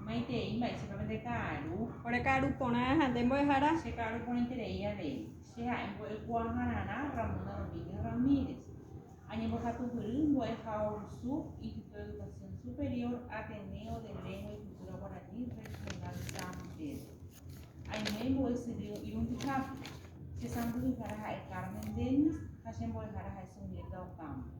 Maitei mba'éichapa pende ka'aru. Ore ka'aru porã ha nde mbo'ehára. Che ka'aru porãiterei avei. Che ha'e mbo'ekuaahararã Ramona Domínguez Ramírez. Añembohapyhýry mbo'ehao rusu Instituto de Educación Superior Ateneo de Lengua y Cultura Guaraní Regional San Pedro. Aiméi mbo'esyry irundihápe. Che sãmbyhyhára ha'e Carmen Dennis ha che mbo'ehára ha'e Sunilda Ocampo.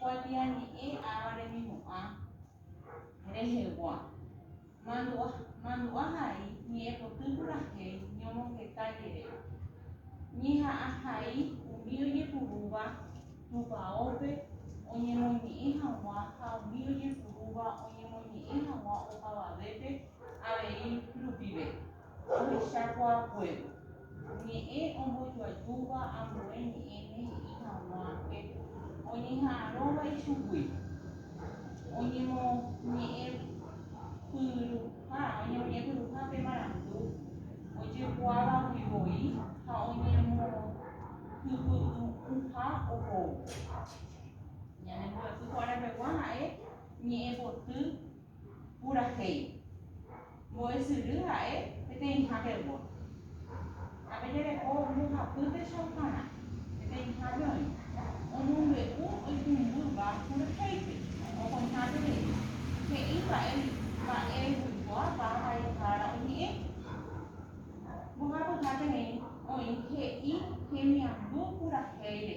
Kuatiañe'ẽ áva remimo'ã rehegua, mandu'a hai ñe'ẽpoty purahéi ñomongeta jeréva, ñeha'ã hai umi ojepurúva tupaópe oñemoñe'ẽ hag̃ua ha umi ojepurúva oñemoñe'ẽ hag̃ua opavavépe avei rupive. Ohechakuaakuévo, ñe'ẽ ombojoajúva ambue ñe'ẽme he'i hag̃ua pe oñeha'arõva ichugui, oñemoñe'ẽpyruha pe marandu ojekuaavagui voi ha oñemokyky'ỹha ohóvo. Ñanembo'epy kuaravegua ha'e ñe'ẽpoty. purahéi, mbo'esyry ha'e peteĩha pegua. Ha pe jareko mbohapýtecha oparã, peteĩhápe oĩ, omombe'u oipumbýva purahéipe, okoihápe rei, he'i mba'e mba'eguikuaápa vaihára oñe'ẽ. Mbohapyháterei oĩ he'i hemiandu purahéi rehe.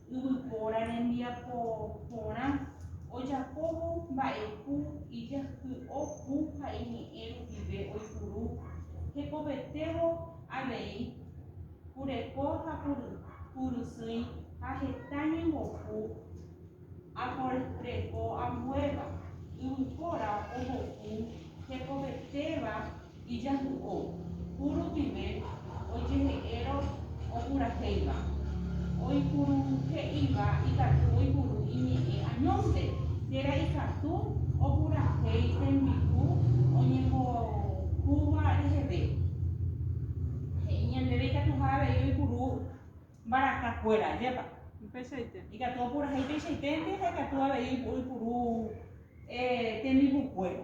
Yvypóra rembiapo porã ojapóvo mba'epu ijahý'o pu ha iñe'ẽ rupive oipuru hekovetévo avei pureko ha purysỹi ha heta ñembopu aporreko ambuéva. Yvypóra ohopu hekovetéva Ijahu'o, ku rupive ojehe'érõ opurahéiva, oipuru he'iva ikatu oipuru iñe'ẽ añónte. Térã ikatu opurahéi tembi'u oñembohúva reheve. He'i ñandéve ikatuha avei oipuru mbaraka kuéra, ajépa? Upeichaite. Ikatu opurahéi peichaiténte ha ikatu avei oipuru tembi'u kuéra.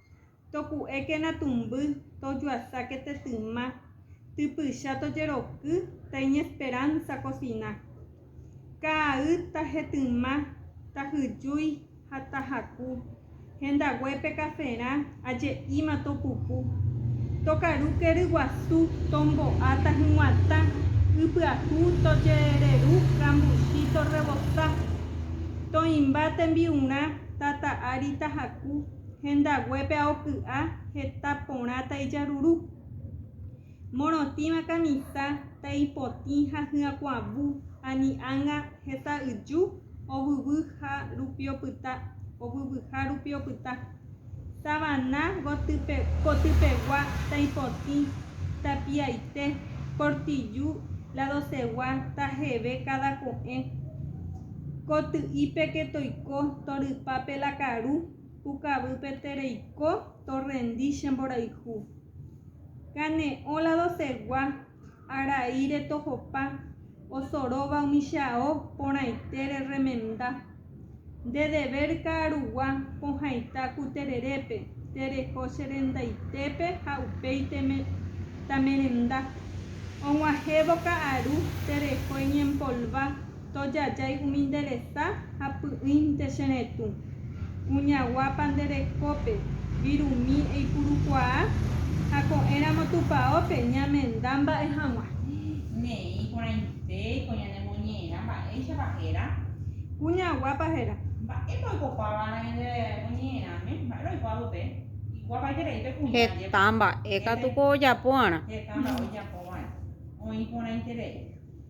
Toku'ékena tumby, tojuasáke tetyma, typycha tojeroky taiñesperánsa kosina. Kaa'y tahetyma, tahyjúi ha tahaku, hendaguépe kaferã aje'íma topuku. Tokaru ke ryguasu, tombo'a tahyg̃uatã, ypyahu tojereru kambuchi torrebosa. Toĩmba tembi'urã, tata ári tahaku. Hendaguépe aoky'a heta porã taijaruru. Morotĩva kamisa taipotĩ ha hyakuãvu ani ãnga heta yju ovyvy ha rupi opyta, ovyvyha rupi opyta. Tavana gotype, kotypegua taipotĩ tapiaite, kortiju ladosegua tajeve káda ko'ẽ. Koty'ípe ke toiko, torypa pe la karu, pukavýpe tereiko, torrendi che mborayhu. Kane'õ la dosegua, araíre tohopa, osoróva umi che ao porãitére remenda. Nde dever ka'arugua pohãita ku tererépe, tereho che rendaitépe ha upéi tamerenda. Og̃uahẽvo ka'aru, tereho eñempolva. Tojajái umi nde resa ha py'ỹinte che retũ. Kuñaguápa nde rekópe, virumi eipurukuaa, ha ko'ẽramo tupaópe, ñamenda mba'e hag̃ua. Ne'ẽ iporãite ko ñane moñe'ẽrã mba'éichapa héra. Kuñaguápa héra. Mba'épa oikopáva ñande moñe'ẽrãme? Mba'e roikuaa pype? Iguápaite rei pe kuña ajépa. Heta mba'e katu ko ojapova'erã. Heta mba'e oijapova'erã. Oĩ porãite rei.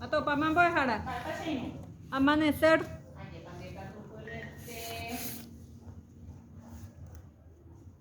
Atopama mbo'ehára. Amanecer.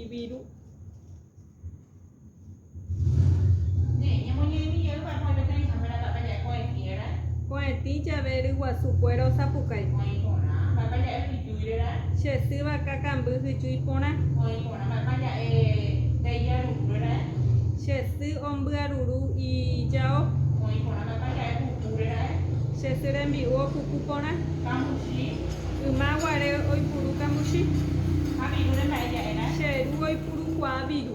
Ibiru. Ko'ẽtĩ jave ryguasu kuéra osapukái. Che sy vaka kamby hyju iporã. Che sy ombyaruru ijao. Che sy rembi'u opuku porã. Yma guare oipuru kambuchi. Che ru oipuru kuaa viru.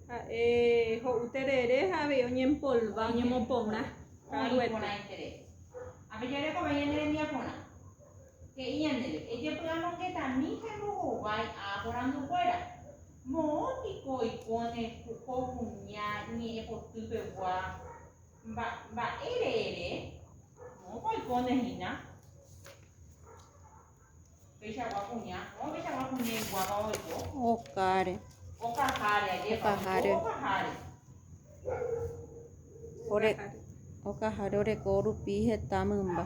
Ha'e ho'u terere ha avei oñempolva, oñemoporã ka'aruete. Ápe jarekove ñande rembiaporã. He'i ñandéve, Ejepy'amongetami ha embohovái a aporandukuéra. Moõ piko oiko ne ko kuña ñe'ẽpoty pegua mba'ére ere? Moõpa oikóne hína. Okáre. Okaháre oreko rupi heta mymba.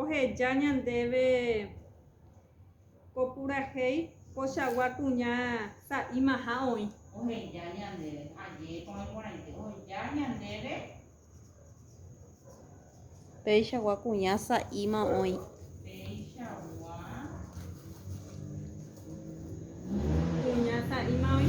oheja ñandéve ko purahéi pochagua kuña sa'ímaha oĩ. Oheja ñandéve, ajépa oĩ porãite, oheja ñandéve. Péichagua kuña sa'íma oĩ. Péichagua kuña sa'íma oĩ.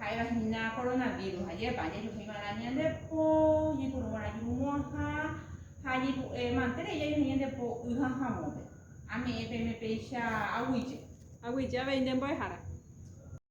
Ha'éva hína koronavírus, ajépa ajejuhúi va'erã ñande po, oñepyrũ va'erã jurumo'ãha ha añepu'e mante rei jajuhu ñande po y ha havõpe. Ame'ẽ peẽme péicha aguije. Aguije avei nde mbo'ehára.